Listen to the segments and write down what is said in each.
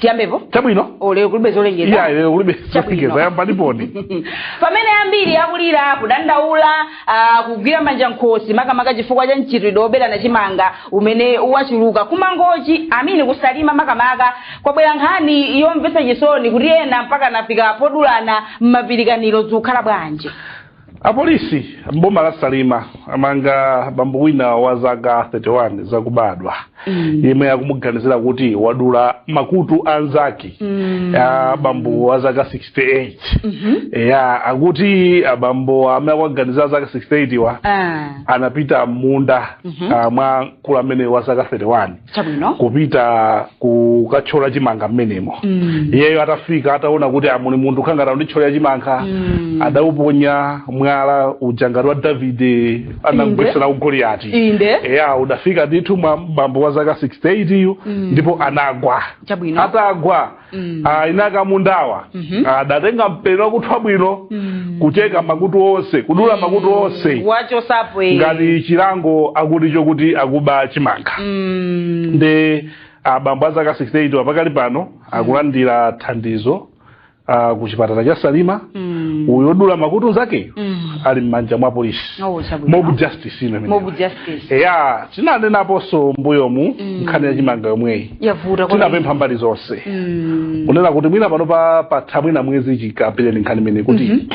tiyambepo chabwino o lero kulibe zolengeza iya lero kulibe Chabwino. zolengeza yambaniponi, pamene ambiri akulira kudandaula ah, kugwira manja m'khosi makamaka chifukwa cha mchitidwe woberana chimanga umene wachuluka ku Mangochi, I mean ku Salima makamaka kwabwera nkhani yomvetsa chisoni kuti ena mpaka anafika podulana mapirikaniro zikukhala bwanji Apolisi m'boma la Salima amanga bambo wina wa zaka 31 zakubadwa mm. yemwe akumuganizira kuti wadula makutu anzake mm. a bambo wa zaka 68 mm -hmm. ya akuti abambo amene akuwaganizira zaka 68 wa ah. anapita m'munda mm -hmm. uh, mwa mkulu amene wa zaka 31 chabwino kupita kukatchola chimanga mmenemo Mm. iyeyo atafika ataona kuti muli munthu akutangwanika ndi kuthyola chimanga Mm. adauponya mwala uja ngati wa Davide anamgwetsera Goliyati inde eya udafika ndithu mwa bambo wa zaka 68 yu ndipo anagwa chabwino atagwa Mm. Ah, eni ake amundawa Mhm. Ah, adatenga mpeni wakuthwa bwino Mm. kucheka makutu onse kudula makutu onse wachosapo eh. ngati chilango akuti chokuti akuba chimanga Mm. nde abambo a zaka 68 wa pakali pano akulandira thandizo ah, ku chipatala cha Salima Mm. uyu odula makutu nzake Mm. ali m'manja mwa apolisi Oh, chabwino. mob justice ino imeneyo. Mob justice. eya tinanenaponso mbuyomu Mm. nkhani ya chimanga yomweyi yavuta kwambiri. tinapempha mbali zonse Mm. kunena kuti mwina pano papatha mwina mwezi chikambireni nkhani imeneyi kuti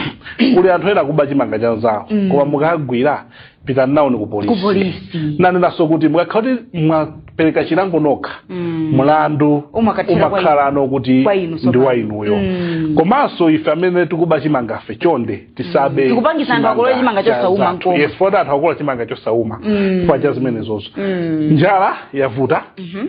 kuli anthu ena akuba chimanga cha nzawo Mhm. koma mukagwira pitani nawoni ku polisi kupolisi tinanenanso kuti mukakhala kuti mwapereka chilango nokha Mm. mlandu Umakathera kwa umakhala no kuti kwa inu ndi tsopano. wa inuyo Mm. komanso ife amene tikuba chimangafe chonde tisabe Mm. Tikupangitsa anthu akolole chimanga cha chosauma zathu. nkomwe. yes poti anthu akolola chimanga chosauma Mm. chifukwa cha zimenezozo Mm. njala yavuta Mhm.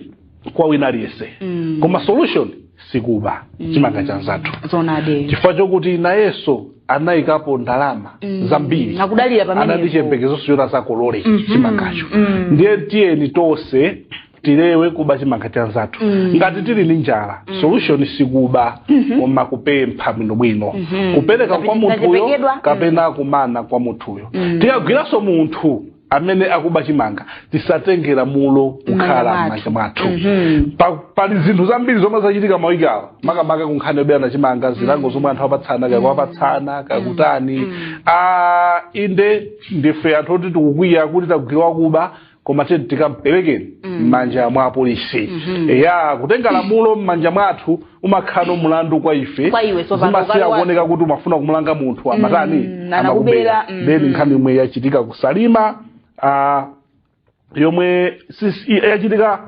kwa wina aliyense Mm. koma solution sikuba chimanga cha nzathu zonade chifukwa chokuti nayenso anayikapo ndalama Mm. zambiri Nakudalira pamenepo. anali ndi chiyembekezonso choti azakolole Mm. chimangacho Mm. ndiye tiyeni tonse tilewe kuba chimanga cha nzathu Mm. ngati tili ndi njala Mm. solution sikuba Mhm. koma kupempha bwinobwino Mhm. kupereka Ngati kwa munthuyo tachepekedwa. kapena kumana kwa munthuyo Mm. tikagwiranso munthu amene akuba chimanga tisatenge lamulo kukhala M'manja m'manja mwathu Mhm. Pa- pali zinthu zambiri zomwe zachitika mawiki awa makamaka kunkhani yoberana chimanga zilango zomwe anthu apatsana kaya kupatsana kakutani Mm. Ah, inde ndife anthu oti tikukwiya kuti tagwira wakuba koma tiyeni tikamperekeni m'manja mwa apolisi ya kutenga lamulo m'manja mwathu umakhala no mulandu kwa ife Kwa iwe, tsopano zimasiya ukali wa- kuoneka kuti umafuna kumulanga munthu amatani anakubera, anakubera mm. then nkhani yomwe yachitika ku Salima ah, yomwe sis- yachitika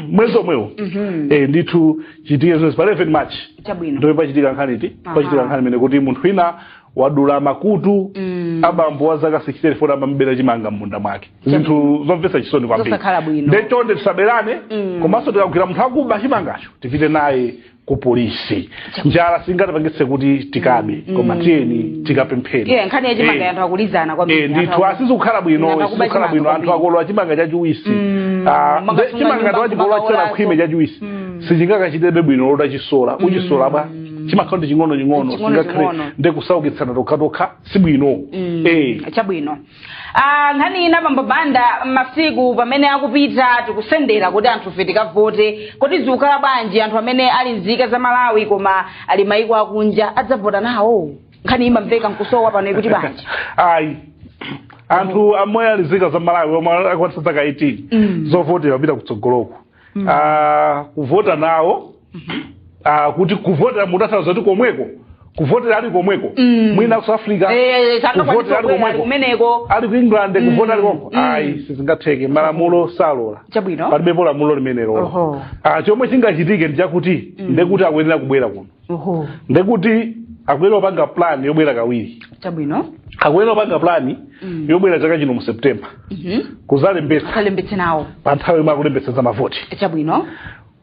mwezi omwewo Mhm. eh, ndithu yachitika zedi pa 11 march chabwino ndipo pachitika nkhani iti Aha. pachitika nkhani yonena kuti munthu wina wadula makutu Mm. abambo wa zaka 64 amamubera chimanga m'munda mwake zinthu zomvetsa chisoni kwambiri Zosakhala bwino. nde chonde tisaberane Mm. komanso tikagwira munthu akuba chimangacho tipite naye ku polisi njala singatipangitse kuti tikabe koma tiyeni tikapemphe tiye nkhani ya chimanga Eh. anthu akulizana kwambiri Eh, ndithu sizikukhala bwino Ndinakaba sizikukhala chimanga bwino anthu kwambiri. akukolola chimanga chachiwisi Mm, Ah, manga nde- sunga chimanga nyumba, ndiwachibola manga chera olazo. khwime chachiwisi Mm. sichingachitebe bwino lota chisola ukachisola bwa chimakhalanso ching'onoching'ono Ching'ono singakhale ching'ono. nde kusaukitsana tokhatokha si bwino Mm, Eh. chabwino Ah, nkhani ina bambo banda masiku pamene akupita tikusendera kuti anthu ife tikavote kodi zikukhala bwanji anthu amene ali nzika za malawi koma ali maiko akunja adzavota nawo nkhani imamveka nkusowa pano ikuti bwanji ayi anthu omwe ali nzika za malawi omwe akwanitsa zaka 18 Mm. zovotera kupita kutsogoloko mm. uh, kuvota nawo mm -hmm. uh, kuti kuvota kutanthauza kuti komweko kuvotera ali komweko mm. mwina ku south africa eh, eh, kuvotera ali komweko ali ku england mm. kuvotera ali komweko mm. ayi sizingatheke malamulo salola palibepo lamulo limenelo ah, chomwe chingachitike ndi chakuti ndekuti akuyenera kubwera kuno oho ndekuti akuyenera kupanga plan yobwera kawiri chabwino akuyenera kupanga plan Mm. yobwera chaka chino mu september Mhm. kuzalembetsa kalembetse nawo pa nthawi yomwe akulembetsa za mavoti chabwino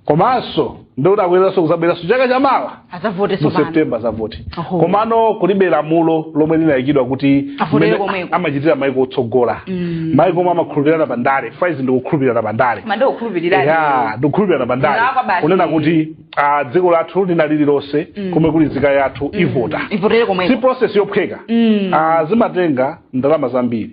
komanso ndikuti akuyeneranso kuzabweranso chaka chamawa azavote mu sopano september azavote Oho. komano kulibe lamulo lomwe linayikidwa kuti Avotele mmene komweko. amachitira maiko otsogola Mm. maiko omwe amakhulupirirana pa ndale paja izi ndi kukhulupirirana pa ndale koma ndikukhulupirira ya ndikukhulupirirana pa ndale Kulakwa basi. kunena kuti ah, dziko lathu lina lililonse mm. komwe kuli nzika yathu mm. ivota ivotere komwe si process yophweka mm. ah, zimatenga ndalama zambiri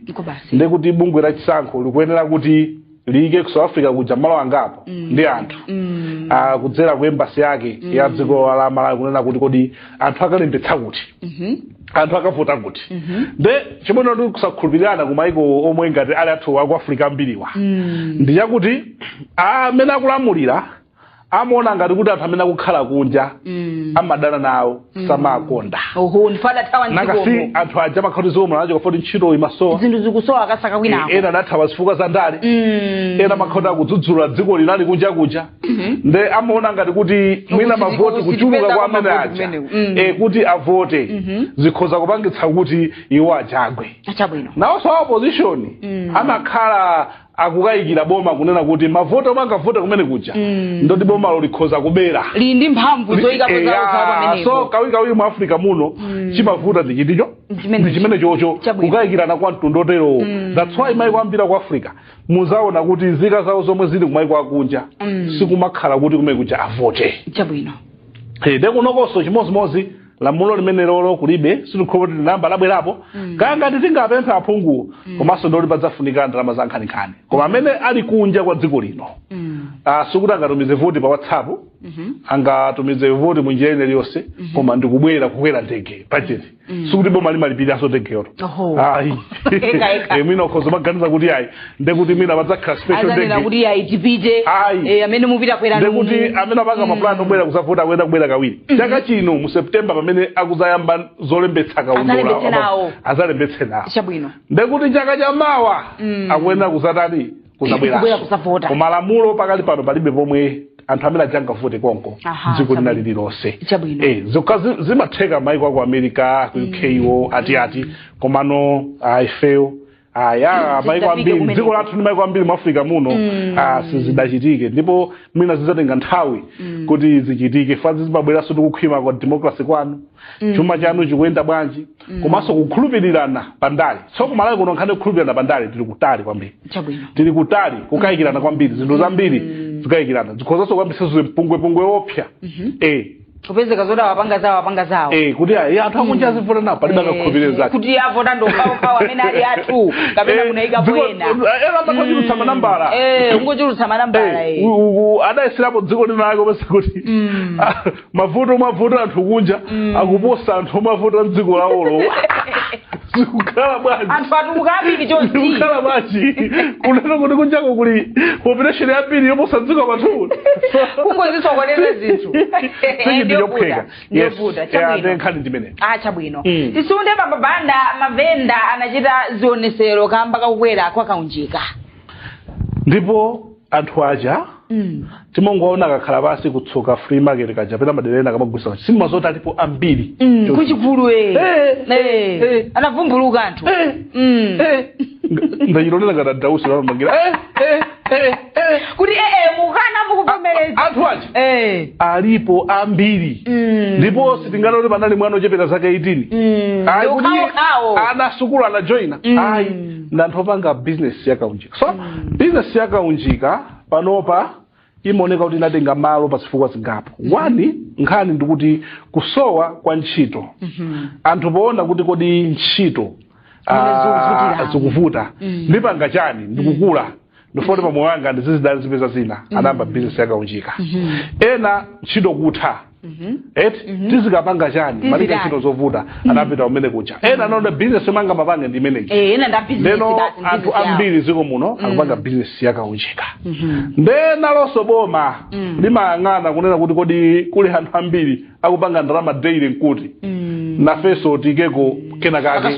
ndekuti bungwe la chisankho likuyenera kuti liyike ku south africa kuja malo angapo mm. ndi anthu mm. ah, kudzera ku embassy yake mm. ya dziko la malawi kunena kuti kodi anthu akalembetsa kuti mm -hmm anthu akavota kuti mm -hmm. nde chimene ndi kusakhulupirirana ku maiko omwe ngati ali athu aku africa ambiriwa mm. ndi chakuti amene akulamulira amaona ngati kuti anthu amene akukhala kunja Mm. amadana nawo samakonda oho ndipo adathawa nanga si mdzikomo anthu aja amakhala kuti zomwe nacho chifukwa choti ntchito imasowa zinthu zikusowa akasaka kwinako ena adathawa zifukwa za ndale Mm. ena amakhala akudzudzula dzikoli ali kunja kuja nde amaona ngati kuti mwina Ukusiti- mavoti ukusiti kuchuluka pesa kwa amene kwamavoti aja kumeneku. Mm. eh, kuti avote zikhoza kupangitsa kuti iwo aja agwe achabwino nawonso a opposition amakhala akukayikira boma kunena kuti mavoti omwe angavote kumene kuja mm. ndi oti bomalo likhoza kubera lili ndi mphamvu zoyikapo zawo zawo Eya, so pamenepo kawirikawiri mu africa muno chimavuta ndi chiticho Chimene- ndi chimenechocho Chabwino. kukayikirana kwa mtundu woterowo that's why maiko ambiri ku africa muzaona kuti nzika zawo zomwe zili kumaiko akunja sikumakhala kuti kumene kuja avote chabwino Eh, nde kunokonso chimodzimodzi lamulo limenelolo kulibe sitikhulupirira kuti linayamba labwerapo mm. kaya ngati tingapemphe aphunguwo mm. komanso ndi loti padzafunika ndalama za nkhaninkhani koma amene ali kunja kwa dziko lino mm. Ah, sikuti angatumize voti pa whatsapp mm-hmm. angatumize voti mu njira ina iliyonse mm-hmm. koma ndikubwera kukwera ndege bajeti sikuti boma limalipiriranso ndegeyo Oho. ayi Eka, eka. mwina ukhoza kumaganiza kuti ayi ndekuti mwina padzakhala azanena kuti ayi tipite Ayi. eh, amene mupita kwera ndekuti amene apanga mapulani obwera kuzavota akuyenera kubwera kawiri chaka chino mu septemba pamene akuzayamba zolembetsa Azalembetse nawo. azalembetse nawo chabwino ndekuti chaka cha mawa akuyenera kuzatani Kubwera kuzabwera kuzavota. koma lamulo pakali pano palibe pomwe anthu amene aja angavote konko Aha, dziko lina chabwino. lililonse Chabwino. Eh, zokha zi- zimatheka maiko aku america ku uko ati ati komano ifeyo aya maiko ambiri dziko lathu ndi maiko ambiri mu africa muno mm. ah, sizidachitike ndipo mwina zidzatenga nthawi mm. kuti zichitike chifukwa izi zimabweranso ndi kukhwima kwa democracy kwanu mm. chuma chanu chikuyenda bwanji mm. komanso kukhulupirirana pa ndale so kumalawi kuno nkhani kukhulupirirana pa ndale tili kutali kwambiri tili kutali kukayikirana kwambiri zinthu zambiri mm. kukayikirana zikhozanso kuyambitsa chipwirikiti opsa mm -hmm. eh kupezeka zoti apanga zawo apanga zawo Eh, kuti ayi anthu akunja azivota nawo palibe akakhulupirire nzake kuti avota ndi okhaokhawo amene ali athu kapena Eh, munayikapo ena eh, ena amachulutsa manambala Eh, kungochulutsa manambala Eh, eh. u- u- u- adayeserapo dziko lina lake opeza kuti ah, mavoti omwe avota anthu kunja akuposa anthu omwe avota mdziko lawolo zikukhala bwanji anthu atuluka ambiri chonchi zikukhala bwanji kunena kuti kunjako kuli population yambiri yoposa nzika zathu kungozisokonezera zinthu sichinthu chophweka Yes. ndi ovuta Yeah, chabwino then nkhani ndimene ah chabwino Mm. tisunthe apa banda mavenda anachita zionesero kamba kakukwera kwa kaunjika ndipo anthu aja mm. timangoona akakhala pansi ku tsoka flea market kaja pena madera ena akamagulisa sitidziwa zoti alipo ambiri mm. Choncho. kuchigulu eh. Eh, Eh. eh. anavumbuluka anthu Eh, Mm. eh. Nga- ndachilonera ngati a times amajambula Eh, eh, eh, eh. kuti ee mukanatha kuvomereza anthu aja Eh. alipo ambiri Mm. ndipo sitinganene kuti panali mwana ochepera zaka 18 Mm. Ayi, kuti Ndikhaokhawo. ana asukulu anajoyina Mm. ayi ndanthu opanga bizinesi ya kaunjika so bizinesi ya kaunjika panopa imaoneka kuti inatenga malo pa zifukwa zingapo one nkhani ndikuti kusowa kwa ntchito anthu poona kuti kodi ntchito Zimene ah, zikuvutiramo. zikuvuta ndipanga chani ndikukula ndifuna kuti pa moyo wanga ndizizidalira ndizipeza zina anayamba bizinesi yakaunjika ena ntchito kutha Mhm. eti mhm. tizikapanga chani malika ntchito zovuta mhm. anapita kumene kuja ena anaona bizinesi yomwe angamapange ndi imeneyi eh, ndeno anthu ambiri ziko muno akupanga bizinesi yakaunjika nde nalonso boma limayang'ana kunena kuti kodi kuli anthu ambiri akupanga ndalama daily nkuti nafenso tiikeko kenakake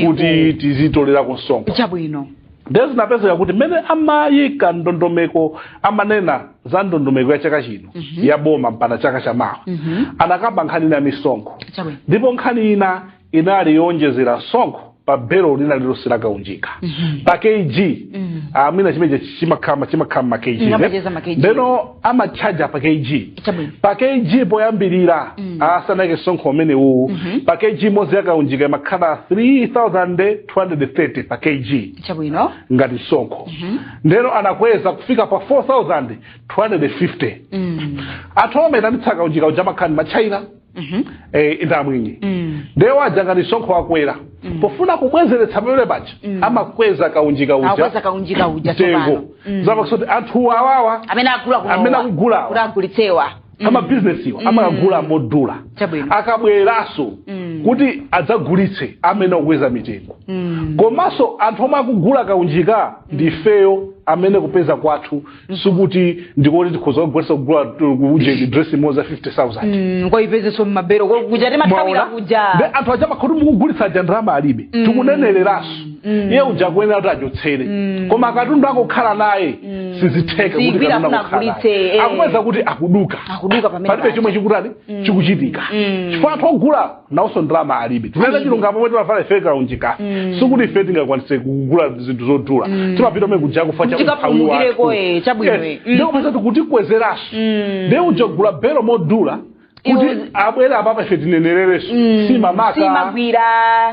kuti tizitolera msonkho chabwino ndiye zinapezeka kuti mmene amayika ndondomeko amanena za ndondomeko ya chaka chino Mhm. ya boma mpaka chaka cha mawa Mhm. anakamba nkhani ina ya misonkho Chabwino. ndipo nkhani ina inali yowonjezera msonkho pa belo lina lilonse la kaunjika Mhm. pa kg Mm. I mean chimenecho chimakhala chimakhala ma kg Mm, amayeza ma kg. ndeno amatchaja pa kg Chabwino. pa kg poyambirira Mm. asanayike msonkho umene uwu Mhm. pa kg imodzi yakaunjika imakhala 3000 230 pa kg chabwino ngati msonkho mm -hmm. ndeno anakweza kufika pa 4250 mm. anthu omaitanitsa kaunjika uja amakhala ndi ma china mm -hmm. eh, ndi amwenye mm. nde iwo aja ngati msonkho wakwera mm. pofuna kubwezeretsa pamene paja mm. amakweza kaunjika uja akweza kaunjika uja mtengo mm. zapangitsa kuti anthu awawa amene akugula amene akugula kuti agulitsewa amabizinesiwa amakagula modula Chabwino. akabweranso kuti adzagulitse amene akukweza mitengo komanso anthu omwe akugula kaunjika ndi ifeyo amene kupeza kwathu sikuti ndikuti tikhoza kugulitsa kugula uje dress imodzi ya 50000 Mm, koipezeso mmabero kuja timathawira Mwaona? kuja nde anthu aja amakhala kuti mukugulitsa aja ndalama alibe tikunenereranso mm. iye uja akuyenera kuti achotsere mm. koma katundu angokhala naye mm. sizitheka eh. akupeza kuti akuduka palibe chomwe chikutani mm. chikuchitika mm. chifukwa anthu ogula nawonso ndalama alibe tinene zachilungamo omwe timavala ife kaunjika mm. sikuti ife tingakwanise kugula zinthu zodula mm. timapita komwe kuja chifukwa cha umphawi wathu eh, ndikupeza kuti akutikwezeranso mm. ndiye uja akugula belo modula kuti Iwo- abwere apapa ife tinenererenso Mm, simamaka simagwira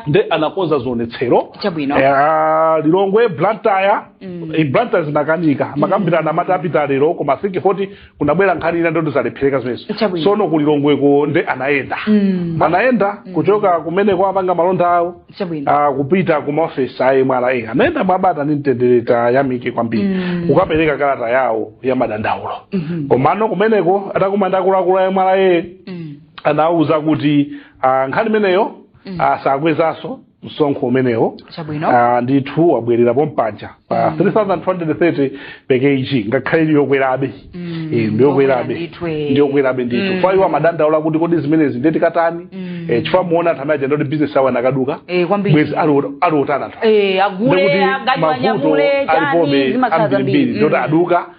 nde anakonza zionetsero Chabwino. Eh, lilongwe blantyre Mm. eh, blantyre zinakanika amakambirana amati apita lero koma think foti kunabwera nkhani ina ndi yoti zalephereka zimenezo Chabwino. sono ku lilongweko nde anayenda Mm. anayenda kuchoka kumeneko apanga malonda awo chabwino uh, kupita ku maofesi a mra anayenda mwabata ndi mtendere tiwayamike kwambiri Mm. kukapereka kalata yawo ya madandaulo Mhm. komano kumeneko atakumana ndi akuluakulu a mra Mm. anawauza kuti ah, nkhani imeneyo Mm. ah, sakwezanso msonkho umenewo chabwino Ah, ndithu wabwerera pompaja pa 3230 per kg ngakhale ili yokwerabe Mm, Eh, ndi yokwerabe ndithu, eh. ndi yokwerabe ndithu Mm. kwa iwo amadandaula kuti kodi zimenezi nde tikatani Mm. Eh, chifukwa muona anthu amene aja ndakuti bizinesi awo anakaduka Eh, kwambiri. bwezi ali ot- ali otana anthu Eh, agule Ndikuti aganywa mavuto nyamule alipobe chani zimakhala zambiri zambiri ndikuti aduka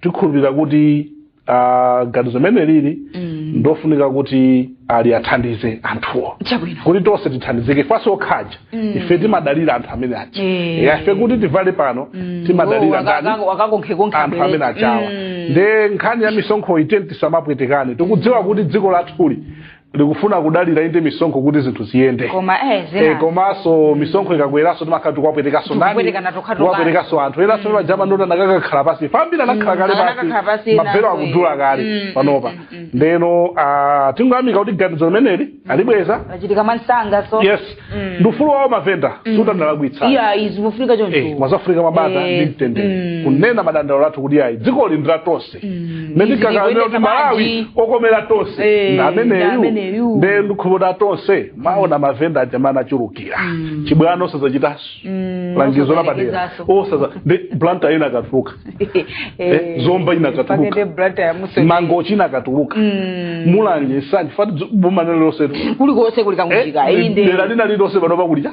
tikhulupirira kuti ah, ganizo limene lili Mm. ndofunika kuti ali athandize anthuwo chabwino kuti tonse tithandizike ifenso okhaja Mm. ife timadalira anthu amene aja Eh. Ya, ife kuti tivale pano timadalira ndani wakakonkhekonkha anthu amene ajawa nde nkhani ya misonkhoyi tiyeni tisamapwetekane tikudziwa kuti dziko lathuli likufuna kudalira inde misonkho kuti zinthu ziyende koma eh Eh, zina komanso misonkho ikakweranso timakhala tikuwapwetekanso ndani Tikupwetekana tokha tokha. kuwapwetekanso anthu ena sio majama ndoti anakakakhala pasi ambiri anakhala kale anakakhala pasi pasi, mabelo nazo, akudula eh. kale Mm, panopa mm, mm, mm. ndeno ah, tingoyamika kuti ganizo limeneli alibweza achita mwansanga so yes Mm. ndi ufulu wawo mavenda sikuti analakwitsa iyayi zimafunika choncho Eh, mwazafurika mwabata Eh, ndi mtendere mm. kunena madandaulo athu kuti ayi dzikoli ndi la tonse mm, mene tikakamira kuti malawi okomera tonse eh, ndameneyu nde ndikhuputa tonse mwaona mavenda aja mmene achulukira mm. chibwana osazachitaso mm, langizo lapadera osaza nde blantyre inakatuluka eh, eh, zomba inakatuluka mangochi inakatuluka mm. mulanje nsanje fati boma lina lililonse kulikonse kuli kaunjika eh, dera lina lililonse panopa kulija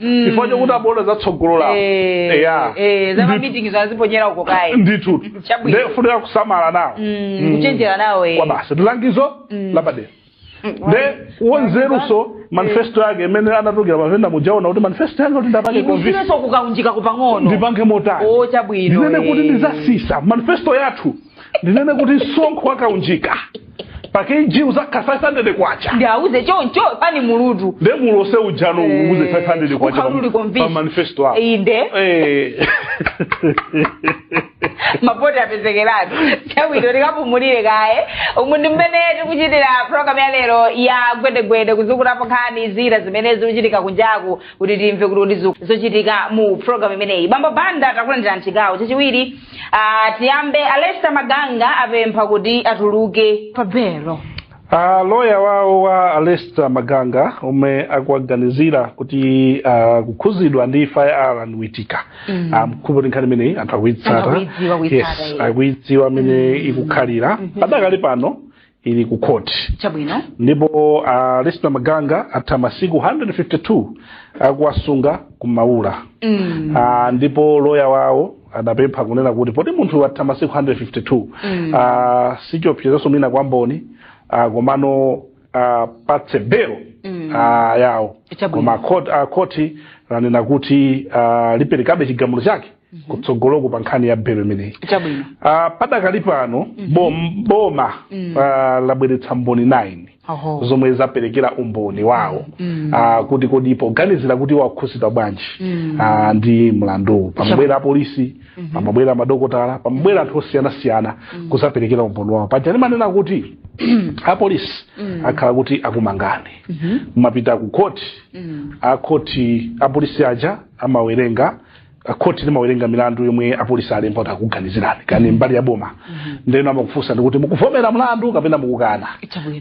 Mm. chifukwa chokuti amaona za tsogolo lawo Eh, Eya. eh, za Ndithu. mamitikizo aziponyera uko kaye ndithu Chabwino. nde kufunika kusamala nawo Mm, Mm. kuchenjera nawo eh. kwa basi ndilangizo Mm. lapadera Mm, nde wanzeruso manifesto yake imene anatulukira mavenda muja aona kuti manifesto yanga kuti ndiwapange convince ikusireso kukaunjikaku pang'ono ndipange motani o chabwino ndinene kuti eh. ndizatsitsa manifesto yathu ndinene kuti msonkho wa kaunjika pa kg uzakhala 500 kwacha ndiwauze choncho pani mulutu nde mulose ujano Eh, uze 500 kwacha ukhala uli pa- convinced. pa manifesto yako inde Eh. mavoti apezekeratu chabwino tikapumulire kaye umu ndi mmene tikuchitira programu ya lero ya gwedegwede kuzukulapo nkhani zina zimene zikuchitika kunjaku kuti timve kuti ndi zo- zochitika mu programu imeneyi bambo banda takulandira mchigawo chachiwiri Ah, tiyambe a Lester Maganga apempha kuti atuluke pa belo Uh, loya wawo wa a Lester Maganga omwe akuwaganizira kuti uh, kukhuzidwa ndi imfa ya Allan Witika mm. um, ndikhulupira kuti nkhani imeneyi anthu Anthu akuitsata akuidziwa, kuitsata, yes, eh. akuidziwa mmene ikukhalira padakali pano ili ku khoti chabwino ndipo a Lester Maganga atha masiku 152 akuwasunga ku maula mm. Ah, ndipo loya wawo adapempha kunena kuti poti munthu atha masiku 152 Mm. ah, sichiopsezonso mwina kwa mboni ah, komano awapatse belo Mm. ah, yawo Chabwino. koma khoti- ah, khoti lanena kuti ah, liperekabe chigamulo chake kutsogoloku pa nkhani ya belo imeneyi chabwino Ah, padakali pano bom- boma ah, labweretsa mboni 9 oho zomwe zaperekera umboni wawo Ah, kuti kodi poganizira kuti wakhudzidwa bwanji ah, ndi mlanduwu pamabwera apolisi pamabwera madokotala pamabwera anthu osiyanasiyana kuzaperekera umboni wawo paja ndimanena kuti apolisi akhala kuti akumangani mapita ku khoti akhoti apolisi aja amawerenga khoti limawerenga milandu yomwe apolisi alemba kuti akuganizirani kani mbali ya boma mm-hmm. ndeno amakufunsani kuti mukuvomera mlandu kapena mukukana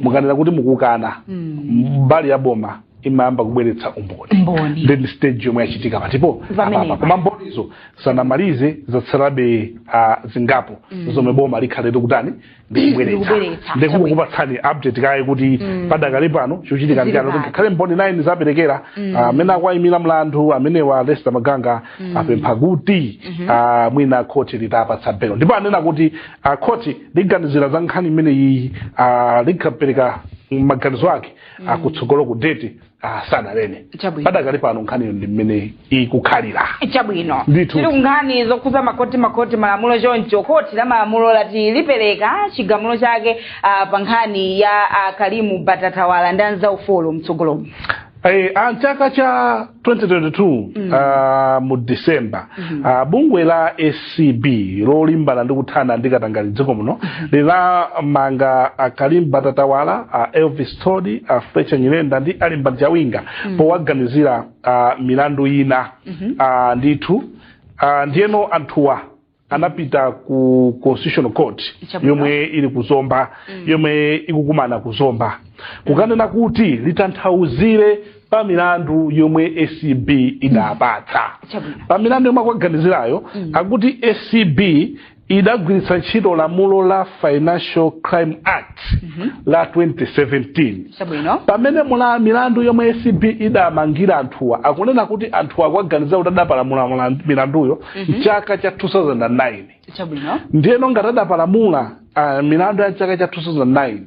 mukanena kuti mukukana mm. mbali ya boma imayamba kubweretsa umboni then stage yomwe yachitika patipo apapa koma mbonizo sanamalize zatsalabe uh, zingapo mm. zomwe boma likhale likutani ndikubweretsa Ndikubweretsa. ndikukupatsani update kaye kuti padakali pano chochitika ndi chani Zili kuti ngakhale mboni 9 zaperekera ah, amene akuwayimira mlandu amenewa a lester maganga apempha kuti ah, mwina khoti litapatsa belo ndipo anena kuti ah, khoti liganizira za nkhani imeneyi ah, likapereka maganizo ake akutsogolo ku date ah sananene Chabwino. padakali pano nkhaniyo ndi mmene ikukhalira chabwino Ndithu. tili kunkhani zokhudza makoti makoti malamulo choncho khoti la malamulo lati lipereka chigamulo chake ah, pa nkhani ya ah, karim batatawala ndi anzawo folo mtsogolomo Eh, a mchaka cha 2022 ah, mu december ah, bungwe la acb lolimbana ndi kuthana ndi katangale dziko muno linamanga a karim batatawala a elvis thodi a fletcher nyirenda ndi a limbani chawinga powaganizira ah, milandu ina Ah, ndithu Ah, ndiyeno anthuwa anapita ku constitutional court Chabwino. yomwe ili ku zomba yomwe ikukumana ku zomba kukanena kuti litanthauzire pa milandu yomwe acb idapatsa Chabwino. pa milandu yomwe akuwaganizirayo akuti acb idagwiritsa ntchito lamulo la financial crime act la 2017 chabwino pamene mula milandu yomwe acb idamangira anthuwa akunena kuti anthuwa akuwaganizira kuti adapalamula mula- milanduyo mchaka cha 2009 chabwino ndiyeno ngati adapalamula uh, milandu ya mchaka cha 2009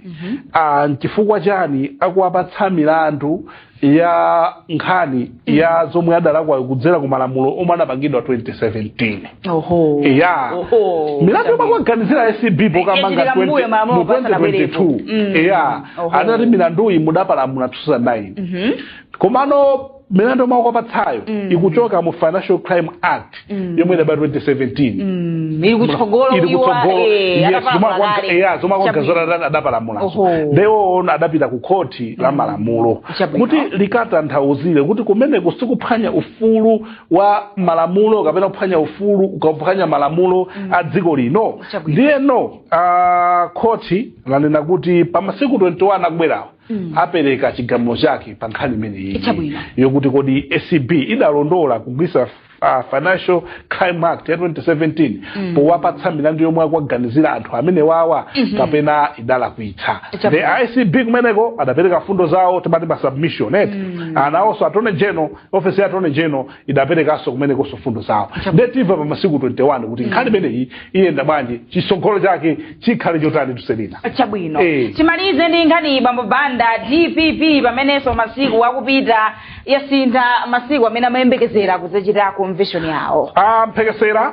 uh, nchifukwa chani akuwapatsa milandu ya nkhani ya zomwe adalakwa kudzera ku malamulo omwe anapangidwa 2017 oho ya Oho. milandu yomwe akuwaganizira acb pokamanga Yachitika mbuyo malamulo asanabwerepo. 2022 Mm. ya Oho. anati milanduyi mudapalamula 2009 komano milandu yomwe akuwapatsayo mm. ikuchoka mu financial crime act mm. yomwe idabwera 2017 mm. ili kutsogolo ili kutsogolo eh, yes zomwe akuwaganizira adapalamulazo nde iwo adapita ku khoti la mm. malamulo kuti likatanthauzire kuti kumeneku si kuphwanya ufulu wa malamulo kapena kuphwanya ufulu kuphwanya malamulo mm. a dziko lino ndiyeno uh, khoti lanena kuti pa masiku 21 akubwerawo mm. apereka chigamulo chake pa nkhani imeneyi yokuti kodi acb idalondola kugwiritsa uh, financial crime act ya 2017 mm. powapatsa milandu yomwe akuwaganizira anthu amenewawa mm -hmm. kapena idalakwitsa a acb kumeneko adapereka fundo zawo timati ma submission eti mm. nawonso attorney general office ya attorney general idaperekanso kumenekonso mfundo zawo nde timva pa masiku 21 kuti nkhani imeneyi iyenda bwanji chitsogolo chake chikhale chotani tuselina chabwino Eh. timalize ndi nkhani iyi bambo banda dpp pamenenso masiku akupita yasintha masiku amene amayembekezera kudzachita convention yawo mphekesera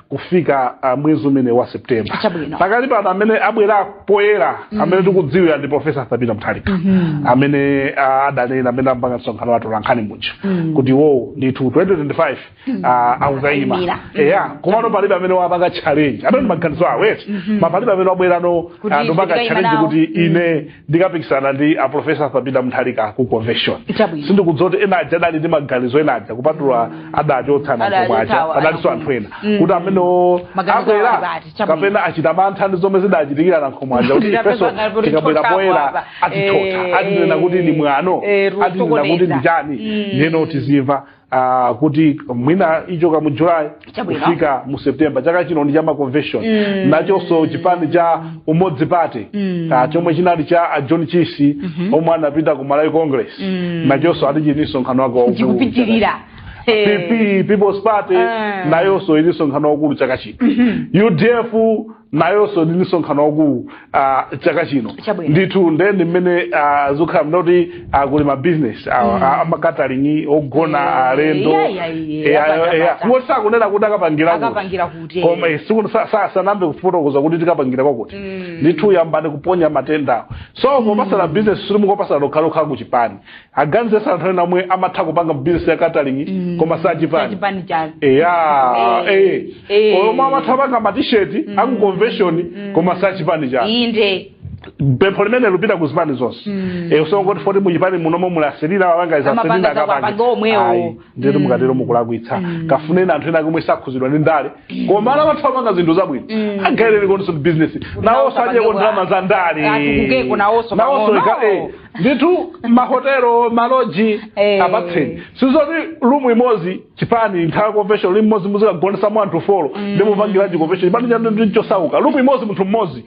kufika uh, mwezi umene wa septemba Chabwino. pakati pano amene abwera poyera amene tikudziwa ndi profesa arthur peter mutharika amene uh, adanena amene amapanga msonkhano wa atolankhani uja kuti iwo ndithu 2025 uh, akukayima Akayimira. eya komano palibe amene wapanga challenge amene ndi maganizo awo eti koma palibe amene wabwera Kuti uh, ndi kupanga ndikayima challenge nawo. kuti ine ndikapikisana ndi aprofesa arthur peter mutharika ku convention Chabwino. sindikudziwa kuti ena aja adali ndi maganizo ena aja kupatula adachotsa Adachotsa a nankhumwa aja awo, padalinso anthu ena Mm. kuti amenewo Maganizo awo abwera adati, chabwino. kapena achita mantha ndi zomwe zidachitikira a nankhumwa aja kuti Ndidapeza ifenso ngati kuti tikabwera chotsapo poyera apa. atithotha Eh, atinena kuti ndi mwano eh, atinena kuti ndi kusokoneza. chani Mm. ndiyeno tizimva uh, kuti mwina kuchoka mu july Chabwino. kufika mu september chaka chino ndi cha ma convention Mm. nachonso chipani cha umodzi party Mm. uh, chomwe chinali cha a john chisi omwe anapita ku malawi congress Mm. nachonso ati chili ndi msonkhano wake waukulu chikupitirira Eh. pp people's party Ah. nayonso ili ndi msonkhano waukulu chaka chino udf nayonso ili ndi msonkhano waukulu uh, chaka chino Chabwino. ndithu nde ndi mmene uh, zokhala mda kuti uh, kuli mabizinesi a ma catering ogona Eh, alendo iya, iya, iya, Eh, apata, ah, eh, apata. iwo sakunena kuti akapangira kuti. Akapangira kuti, eh. koma eh, siku- sa- sa- sanayambe kufotokoza kuti tikapangira kwakuti ndithu yambani kuponya matendawo so popatsana bizinesi sikuti mukupatsana nokhanokha kuchipani aganizirenso anthu ena omwe amatha kupanga bizinesi ya catering koma sachipani sachipani chake eya Eh, eh. eh omwe amatha kupanga matisheti aku convention koma sachipani chake inde pempho limene likupita ku zipani zonse Eh, osangoti poti muchipani munomo mulasilira wawanga isasilira Amapanga akapange. zakuwapange omwewo. Ayi. ndiyeti mukatero mukulakwitsa kafuneni anthu ena komwe sakhuzidwa ndi ndale koma alinamo amanga zinthu zabwino agawireniko bizinesi nawo sadyeko ndalama za ndale atukukeko nawonso ndithu mahotelo maloji Eh. apatseni sizoti lumu imodzi chipani nthawi ya convention lumu imodzi muzikagonetsamo anthu folo nde mupangiranji convention chipani chanu ndi chosauka lumu imodzi munthu mmodzi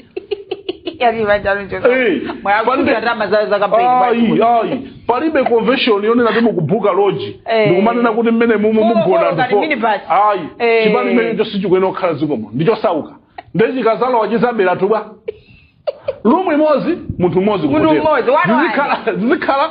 Yaani manja mchoka. Eh, Mwa pande- kuja rama za za kampeni. mwa Ayi, kuja. ayi. palibe convention yonena kuti mukubuka loji Eh. ndikumanena kuti mmene mumu folo, mugona folo, ngati minibus. ayi Eh. chipani chimenecho sichikuyenera kukhala chikomo ndichosauka nde chikadzalowa chidzatibera lumu imodzi munthu mmodzi Munthu kutero. mmodzi, one, one. Zizikhala- zizikhala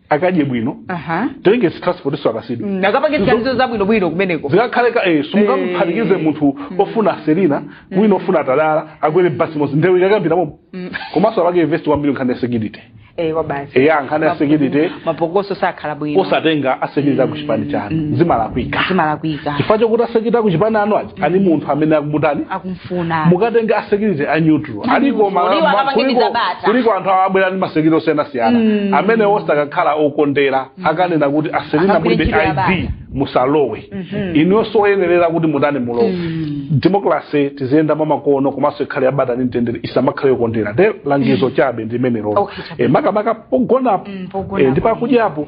akadye bwino aha tenge transport so akasidwe Mm, akapange ziganizo zabwino bwino kumeneko zikakhale ka eh, simungamuphatikize Eh. munthu ofuna selina wina ofuna atalala akwere basi imodzi ndewu ikayambira momo komanso apange invest kwambiri nkhani ya security eh kwabasi eya nkhani ya security mapokoso sakhala bwino osatenga asekiriti a ku chipani chanu zimalakwika zimalakwika chifukwa chokuti asekiriti a ku chipani anu aja ali ndi munthu amene akumutani akumfuna mukatenga asekiriti a neutral aliko ma- Muliwa ma- kapangeni kuliko- zabata. kuliko anthu awo abwera ndi masekiriti osiyanasiyana Mm. amene osakakhala okondera akanena kuti aselina Akagwire mulibe id musalowe Mhm. inunso oyenerera kuti mutani mulowe Mm. demokrase tiziyenda mwamakono komanso ikhale yabata ndi mtendere isamakhale yokondera nde langizo chabe ndi limenelo Okay, chabe. Eh, makamaka pogonapo Mm, pogonapo. eh, ndi pakudyapo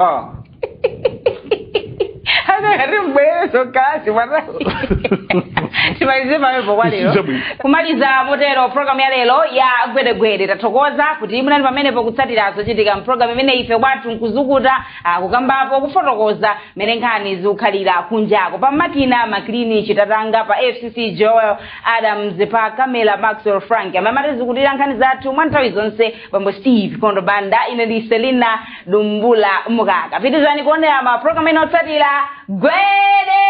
Ah. Anangoti Mbwezo kasi wana. Timalize pamwepo kwa lero. Chabwino. Kumaliza motero programu ya lero ya gwedegwede tathokoza kuti munali pamenepo kutsatira zochitika mpulogalamu imeneyi ife kwathu nkuzukuta kukambapo kufotokoza mmene nkhani zikukhalira kunjako pa makina maklini chitatanga pa fcc joel adams pa kamela maxwell frank amene amatizukutira nkhani zathu mwa nthawi zonse bambo steve kondo banda ine ndi selina dumbula mukaka pitirizani kuonera ma program ena otsatira gwede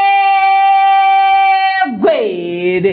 gwede